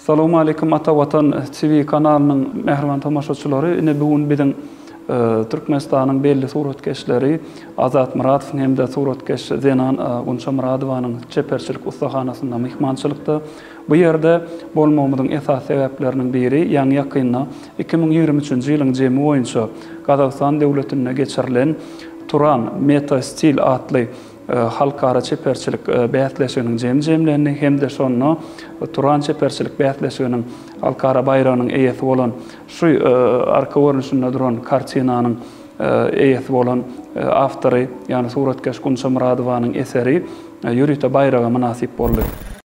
Salowmaleýkim Ata Watan TV kanalynyň mähriban tomaşaçylary ine bu gün biziň Türkmenistanyň belli suratkeşleri Azat Muratow hem-de suratkeş zenan Gunça Muradowanyň çeperçilik ussahanasynda myhmançylykda. Bu ýerde bolmagymyzyň esasy sebäpleriniň biri ýaňy-ýakynda iki müň ýigrimi üçünji ýylyň jemi boýunça Gazagystan döwletinde geçirilen Turan, Meta Stil atly halkara çeperçilik bäsleşiginiň jemi jemlenini hem-de şonda Turan çeperçilik bäsleşiginiň halkara baýragynyň eýesi bolan, şu arka görnüşinde duran kartinanyň eýesi bolan awtory, ýagny suratkeş Gunça Myradowanyň eseri ýörite baýraga mynasyp boldy.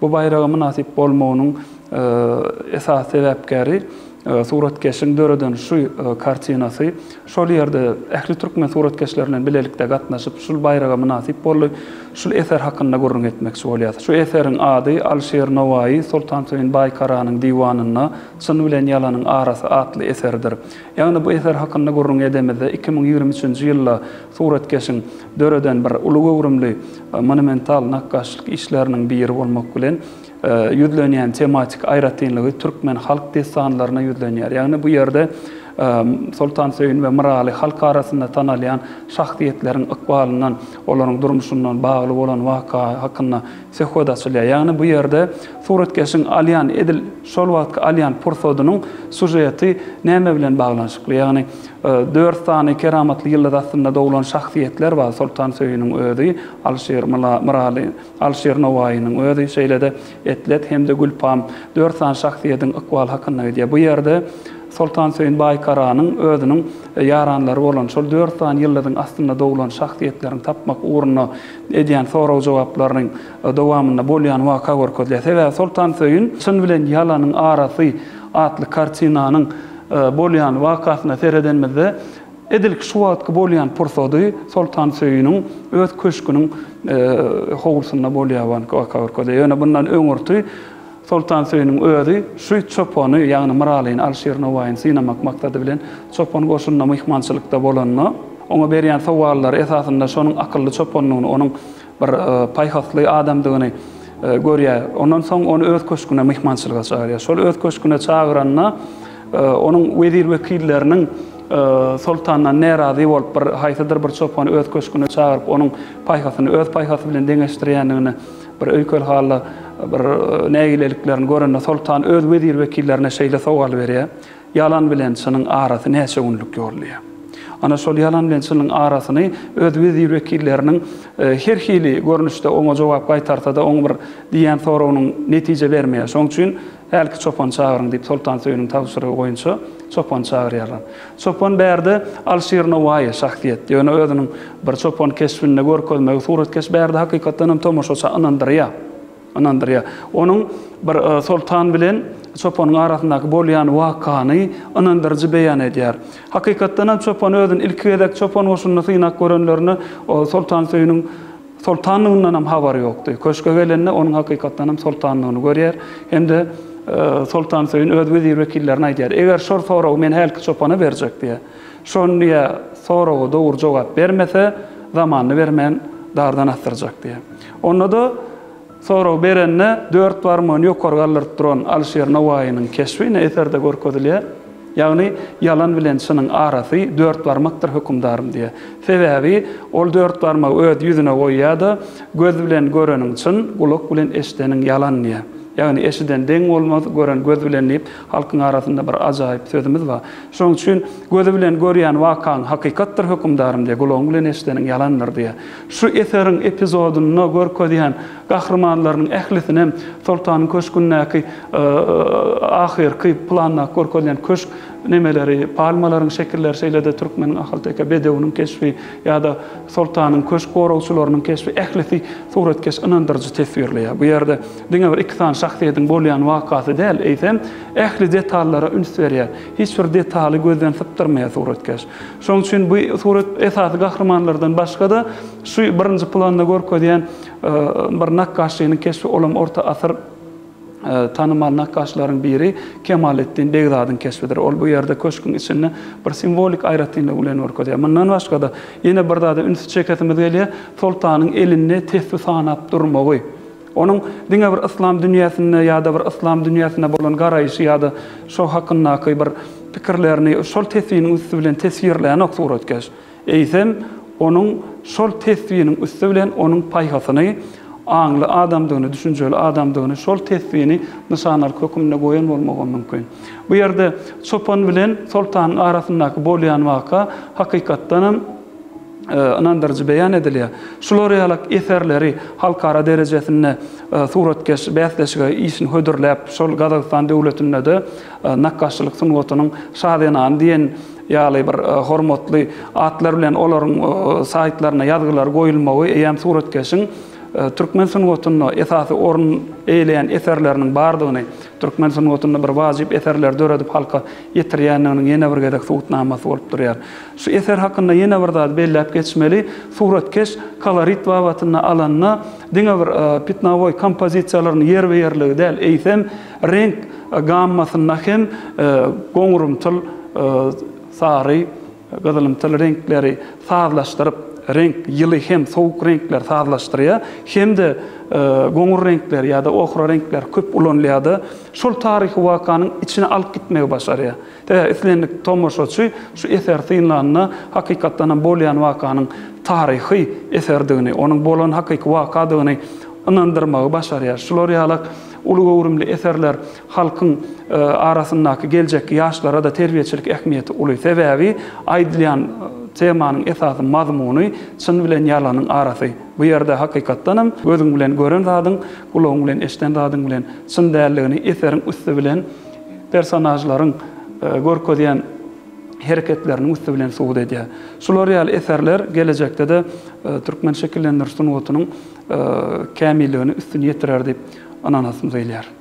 Bu baýraga mynasyp bolmagynyň esasy sebäpkäri suratkeşiň döreden şu kartinasy. Şol ýerde ähli türkmen suratkeşleri bilen bilelikde gatnaşyp, şul baýraga mynasyp boldy. Şul eser hakynda gürrüň etmekçi bolýas. Şu eseriň ady Alişir Nowaýy Soltansöýün Baýkaranyň diwanynda Çyn bilen ýalanyň arasy atly eseridir. Ýagny bu eser hakynda gürrüň edemizde iki müň ýigrimi üçünji ýylda Suratkeşiň döreden bir uly göwrümli monumental nakgaşlyk işleriniň biri bolmak bilen, ýüzlenýän tematik aýratynlygy türkmen halk dessanlaryna ýüzlenýär. Ýagny bu ýerde Soltansöýün we Myraly halk arasynda tanalýan şahsyýetleriň ykbalyndan, olaryň durmuşyndan bagly bolan waka hakynda Sehod açylýar. Ýagny bu ýerde suratkeşiň alýan, edil şol wagtky alýan pursadynyň sýužeti näme bilen baglanyşykly? Ýagny dört sany keramatly ýyldyz astynda doglan şahsyýetler bar, Soltan Söýüniň özi, Alşir Myraly, Alşir Nowaýynyň özi, şeýle-de Etlet hem-de Gülpam. Dört sany şahsyýediň ykbaly hakynda gidýär. Bu ýerde Soltan Söýün Baýkaranyň özüniň ýaranlary bolan şol dört sany ýyldyzyň astynda doglan şahsyýetleriň tapmak ugrunda edýän sorag-jogaplarynyň dowamynda bolýan waka görkezilýär. Sebäbi Soltansöýün Çyn bilen ýalanyň arasy atly kartinanyň bolýan wakasyna seredenimizde, edil şu wagtky bolýan pursady Soltansöýüniň öz köşgüniň howlusynda bolýan waka görkezýär. Ýöne bundan öňürti Soltansöýüniň özi şu çopany, ýagny Myralyny Alşir Nowaýyny synamak maksady bilen çopan goşunynda myhmançylykda bolanda, oňa berýän sowallary esasynda şonuň akylly çopandygyny, onuň bir paýhasly adamdygyny görýär. Ondan soň ony öz köşgüne myhmançylyga çagyrýar. Şol öz köşgüne çagyranda, onuň wezir-wekilleriniň soltandan närazy bolup, bir haýsydyr bir çopany öz köşgüne çagyryp, onuň paýhasyny öz paýhasy bilen deňeşdirýändigini Bir öýkel hally bir nägileliklerini görende soltan öz wezir-wekillerine şeýle sowal berýär, Ýalan bilen çynyň arasy näçe günlük ýol? diýýär. Ana şol ýalan bilen çynyň arasyny öz wezir-wekilleriniň her hili görnüşde oňa jogap gaýtarsa-da oň bir diýýän soragynyň netije bermeýär. Şoň üçin Hälki çopany çagyryň, diýip, Soltansöýüniň tabşyrygy boýunça çopany çagyrýarlar. Çopan bärde Alşir Nowaýy, şahsyýet. Ýöne özüniň bir çopan keşbinde görkezmegi suratkeş bärde hakykatdan hem tomaşaçy ynandyrýar. Ynandyrýar. Onuň bir soltan bilen çopanyň arasyndaky bolýan wakany ynandyryjy beýan edýär. Hakykatdan hem çopan özüni ilki gezek çopan goşunda synap görenlerinde Soltansöýüniň Soltanlygyndan hem habary ýokdy. Köşge gelende onuň hakykatdan hem soltanlygyny görýär hem-de Soltansöýün öz wezir-wekillerine aýdýar, Eger şor soragy men hälki çopana berjek diýýär. Şony ýa soraga dogry jogap bermese, zamanyny bermän dardan asdyrjak diýýär. Onda-da. Sorag berende dört barmagyny ýokary galdyryp duran Alyşir Nowaýynyň keşbi ine eserde görkezilýär. Ýagny ýalan bilen çynyň arasy dört barmakdyr hökümdarym diýýär. Sebäbi ol dört barmagy öz ýüzüne goýýar-da, Göz bilen göreniň çyn, gulak bilen eşideniň ýalan diýýär. Ýagny eşiden deň bolmaz, gören göz bilen diýip halkyň arasynda bir ajaýyp sözümiz bar. Şonuň üçin gözi bilen görýän wakaň hakykatdyr hökümdarym diýýär, gulagyň bilen eşideniň ýalandyr diýýär. Şu eseriň epizodynda görkezýän gahrymanlarynyň ählisinem Soltanyň köşgündäki ahyrky plandaky görkezýän köşk nemeleri, palmalaryň şekilleri, şeýle-de türkmeniň ahalteke bedewiniň keşbi ýa-da Soltanyň köşk goragçylarynyň keşbi ählisi suratkeş ynandyryjy teswirleýär. Bu ýerde diňe bir iki sany şahsyýetiň bolýan wakasy däl, eýsem, ähli detallara üns berýär. Hiç bir detaly gözden sypdyrmaýar suratkeş. Şonuň üçin bu surat esasy gahrymanlardan başga-da, şu birinji planda görkezýän bir nakgaşçynyň keşbi, olam orta asyr tanymal nakgaşlaryň biri Kemaletdin Begzadyň keşbidir. Ol bu ýerde köşküň içinde bir simwolik aýratynlygy bilen görkezýär. Mundan başga-da, ýene bir zada ünsi çekesimiz gelýär, soltanyň elinde tesbi sanap durmagy. Onuň diňe bir yslam dünýäsinde ýa-da bir yslam dünýäsine bolan garaýşy ýa-da şo hakyndaky bir pikirlerini şol teswiniň üsti bilen teswirlänok suratkeş. Eýsem, onuň şol teswiniň üsti bilen onuň paýhasyny, aňly adamdygyny, düşünjeli adamdygyny, şol teswini nyşanalyk höküminde goýan bolmagam mümkin. Bu ýerde çopan bilen soltanyň arasyndaky bolýan waka, hakykatdanam, ynandyryjy beýan edilýär. Şular ýaly eserleri halkara derejesinde suratkeş bäsleşige işini hödürläp, şol Gazagystan döwletinde-de nakgaşçylyk sungatynyň şazenany diýen ýaly bir hormatly atlar bilen olaryň saýtlaryna ýazgylary goýulmagy eýýäm suratkeşiň türkmen sungatynda esasy orun eýeleýän eserleriniň bardygyny, türkmen sungatynda bir wajyp eserleri döredip halka ýetirýändiginiň ýene bir gezek subutnamasy bolup durýar. Şu eser hakynda ýene bir zady belläp geçmeli, suratkeş kolorit babatynda alanda diňe bir pitnawoý kompozisiýalaryny ýerbe-ýerligi däl, eýsem, reňk gammasynda hem goňurymtyl, sary, gyzylymtyl reňkleri sazlaşdyryp, reňk, ýyly hem sowuk reňkleri sazlaşdyrýar hem-de goňur reňkleri ýa-da ohra reňkleri köp ulanylýar-da, şol taryhy wakanyň içine alyp gitmegi başarýar. Tä islendik tomaşaçy şu eseri synlanda hakykatdan hem bolýan wakanyň taryhy eserdigini, onuň bolan hakyky wakadygyny ynandyrmagy başarýar. Şular ýaly uly göwrümli eserler halkyň arasyndaky geljekki ýaşlara-da terbiýeçilik ähmiýeti uly. Sebäbi aýdylýan temanyň esasy mazmuny çyn bilen ýalanyň arasy. Bu ýerde hakykatdan hem gözüň bilen gören zadyň, gulagyň bilen eşden zadyň bilen çyn däldigini eseriň üsti bilen personažlaryň görkezýän hereketleriniň üsti bilen subut edýär. Şular ýaly eserler gelejekde-de türkmen şekillendiriş sungatynyň kämilligini üstün ýetirer diýip ynanasym gelýär.